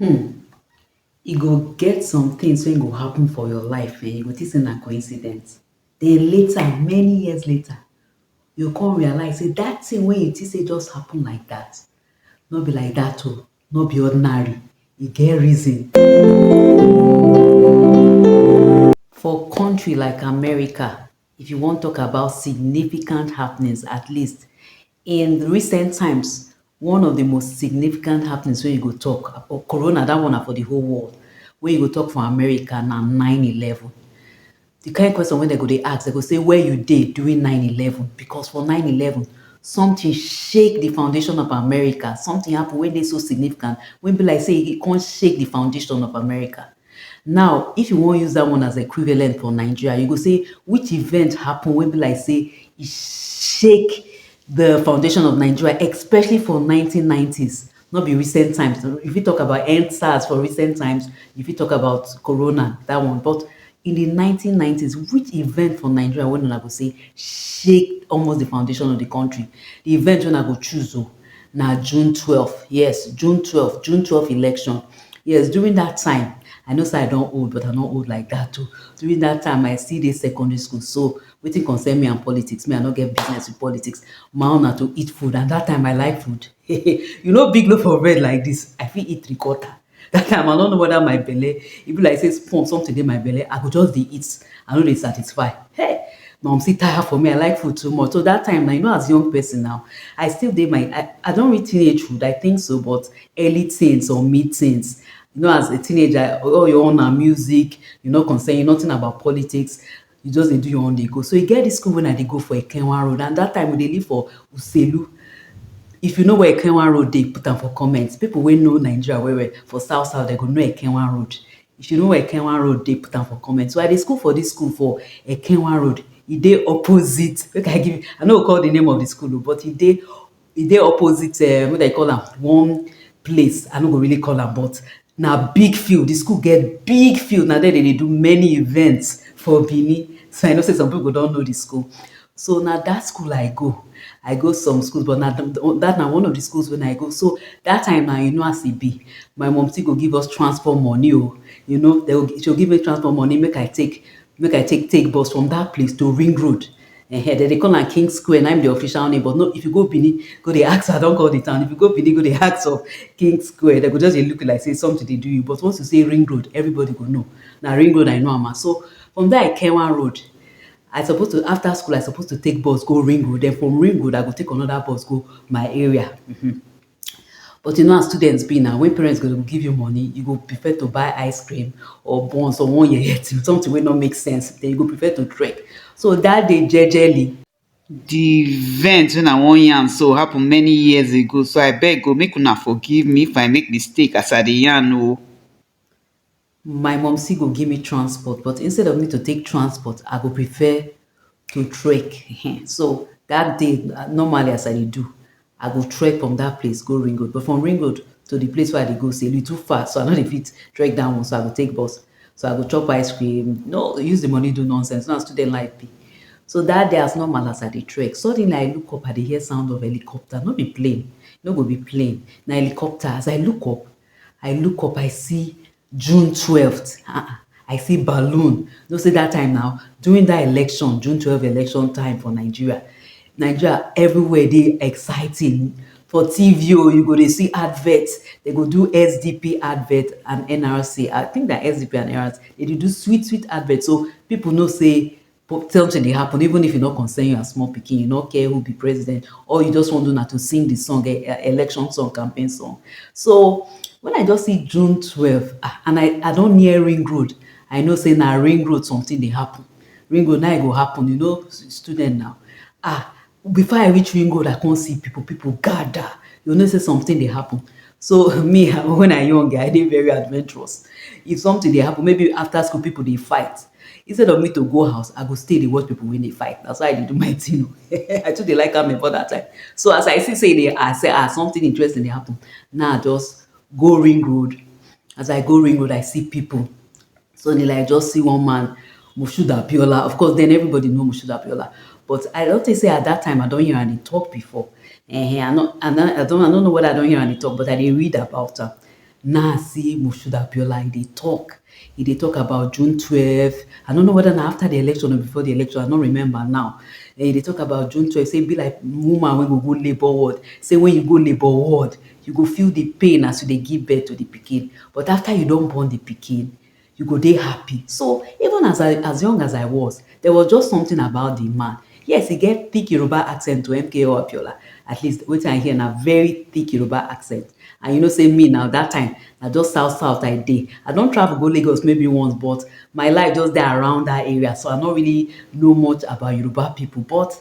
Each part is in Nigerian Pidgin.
um e go get some tins wey go happun for your life um you go tink say na coincidence den later many years later you go come realise say dat tin wey you tink say just happun like dat no be like dat o no be ordinary e get reason for kontri like America If you wan talk about significant happenings, at least in recent times, one of the most significant happenings wey you go talk, or corona, that one na for the whole world, wey you go talk for America na nine eleven. The kind question wey dem go dey ask, dem go say where you dey during nine eleven? Because for nine eleven, something shake the foundation of America, something happen wey dey so significant, wey be like sey e come shake the foundation of America. Now, if you wan use that one as equivalent for Nigeria, you go say which event happen wey be like say e shake the foundation of Nigeria, especially for 1990s. Not be recent times. If you talk about EndSARS for recent times, if you talk about Corona, that one. But in the 1990s, which event for Nigeria when I go say shake almost the foundation of the country? The event when I go choose, oh, na June twelve, yes June twelve, June twelve election yes during that time I know say I don old but I no old like that o during that time I still dey secondary school so wetin concern me and politics me I no get business with politics my own na to eat food and that time I like food you know big loaf of bread like this I fit eat three quarter That time I no know whether my belle, e be like say spoon something dey my belle, I go just dey eat, I no dey satisfy. Hey! My mumsy tire for me, I like food too much. So that time now, you know as young person now, I still dey my, I, I don reach teenagehood, I think so, but early teens or mid teens. You know as a teenager, all you want na music, you no concern you, nothing about politics. You just dey do your own dey go. So e get this school when I dey go for Ekenwa road and that time we dey live for Uselu. If you know where Ekenwa road dey, put am for comment. People wey know Nigeria well well for south south, they go know Ekenwa road. If you know where Ekenwa road dey, put am for comment. So I dey school for this school for Ekenwa road. E dey opposite. Make I give you, I no go call the name of the school, oh, but e dey E dey opposite um make dem call am one place I no go really call am but na big field, di school get big field na there dem dey do many events for Benin so I know sey some pipu go don know di school. So na dat school I go, I go some school but na dat na one of di school wey I go so dat time na you know as e be my mumsy go give us transport money oh, you know she go give me transport money make I take make i take take bus from dat place to ring road um dem dey call am king square na im be the official name but no if you go benin go dey ask i don call the town if you go benin go dey ask of king square dem go just dey look you like say something dey do you but once you say ring road everybody go know na ring road i know am as so from there i came one road i suppose to after school i suppose to take bus go ring road then from ring road i go take another bus go my area mm-hmm. But you know as student be na, when parent go dey give you money, you go prefer to buy ice cream or buns or one yeye thing, something wey no make sense, then you go prefer to trek. So that day jejely, the event when I wan yarn so happen many years ago, so I beg o make una forgive me if I make mistake as I dey yarn o. my mumcy go give me transport but instead of me to take transport i go prefer to trek um so that day normally as i dey do i go trek from that place go ring road but from ring road to the place where i dey go say e too far so i no dey fit trek that one so i go take bus so i go chop ice cream no use the money do nonsense na student life be so that day as normal as i dey trek suddenly i look up i dey hear sound of helicopter no be plane no go be plane na helicopter as i look up I look up I see June twelfth ah ah I see balloon you know say that time na during that election June twelfth election time for Nigeria, Nigeria everywhere dey exciting for TV oo you go dey see advert dem go do SDP advert and NRC I think na SDP and NRC dem dey do sweet sweet advert so people know say Celting dey happen even if e no concern you as small pikin, you no care who be president, all you just wan do na to sing the song, election song, campaign song. So, when I just see June twelve ah, and I I don near ring road, I know say na ring road something dey happen. Ring road na e go happen, you know student na. Ah, Before I reach ring road, I come see people, people gather. You know, say something they happen. So me, when I young, I did very adventurous. If something they happen, maybe after school people they fight. Instead of me to go house, I go stay they watch people when they fight. That's why I did do my thing. Oh. I took the like am for that time. So as I see say they, I say ah something interesting they happen. Now nah, just go ring road. As I go ring road, I see people. Suddenly, like, I just see one man, Moshood Abiola. Of course, then everybody know Moshood Abiola. But I don't think say at that time I don't hear any talk before. Eh, I not, I not, I don't, I don't know whether I don't hear any talk, but I did read about her. Now I see Moshood Abiola, he dey talk. He dey talk about June 12. I don't know whether now after the election or before the election, I don't remember now. Eh, he dey talk about June 12, say be like woman when go go labor ward. Say when you go labor ward, You go feel di pain as you dey give birth to di pikin, but afta you don born di pikin, you go dey happy. So, even as I as young as I was, there was just something about di man. Yes, e get thick Yoruba accent to MKO Abiola, at least wetin I hear na very thick Yoruba accent. And you know say me now, dat time, na just south south I dey. I don travel go Lagos maybe once, but my life just dey around dat area, so I no really know much about Yoruba pipu. But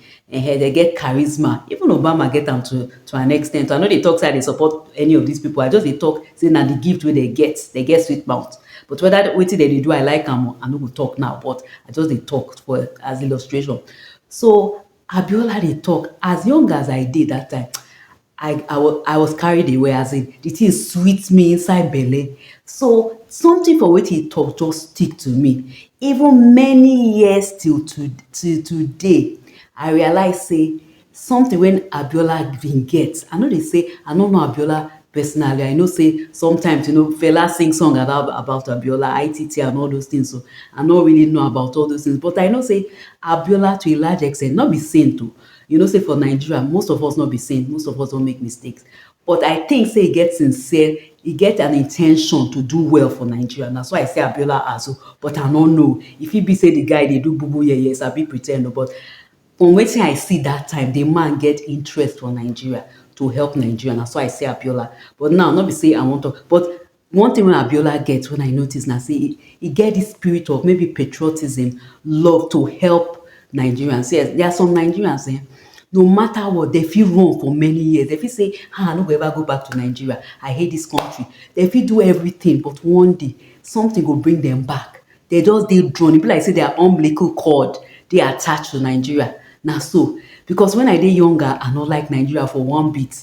Ehen, dem get charisma. Even Obama get am to to an extent. I no dey talk say I dey support any of these people. I just dey talk say na the gift wey dem get. Dem get sweet mouth. But whether wetin dem dey do I like am, I no go talk now. But I just dey talk for as illustration. So Abiola dey talk, as young as I dey that time, I I was I was carried away as in the thing sweet me inside belle. So something for wetin he talk just stick to me. Even many years till to till today, I realize say something when Abiola bin get. I no dey say I no know Abiola personally. I know say sometimes you know Fela sing song about about Abiola, ITT and all those things. So I no really know about all those things. But I know say Abiola to a large extent, no be saint o, oh, You know say for Nigeria most of us no be saint, most of us don make mistakes but I think say e get sincere, e get an intention to do well for Nigeria na so I see Abiola as o but I no know, e fit be say the guy dey do bubu yeye, sabi pretend o but from wetin I see that time the man get interest for Nigeria to help Nigeria na so I see Abiola but now no be say I wan talk but One thing wey Abiola get wey I notice na sey e get this spirit of maybe patriotism, love to help Nigerians. See um there are some Nigerians um no matter what dem fit run for many years, dem fit sey um I no go ever go back to Nigeria, I hate this country, dem fit do everything but one day something go bring dem back, dem just dey drawn, e be like sey their umbilical cord dey attached to Nigeria, na so because when I dey younger I no like Nigeria for one bit,